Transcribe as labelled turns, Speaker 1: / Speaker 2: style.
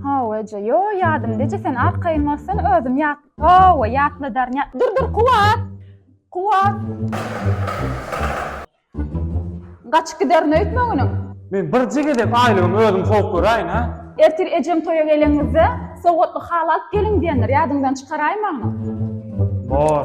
Speaker 1: Hawa eje, ýo ýadymda eje sen arkaýyn bolsan özüm ýat. Hawa ýatladaryn ýat. Dur dur Kuwat. Kuwat. Gaçyp giderin öýtme günüň. Men birje gezek aýlygym özüm sowup göräýin ha. Ertir ejem toýa gelenizde sowgatly haly alyp geliň diýendir ýadyňdan çykaraýmagyň. Bor.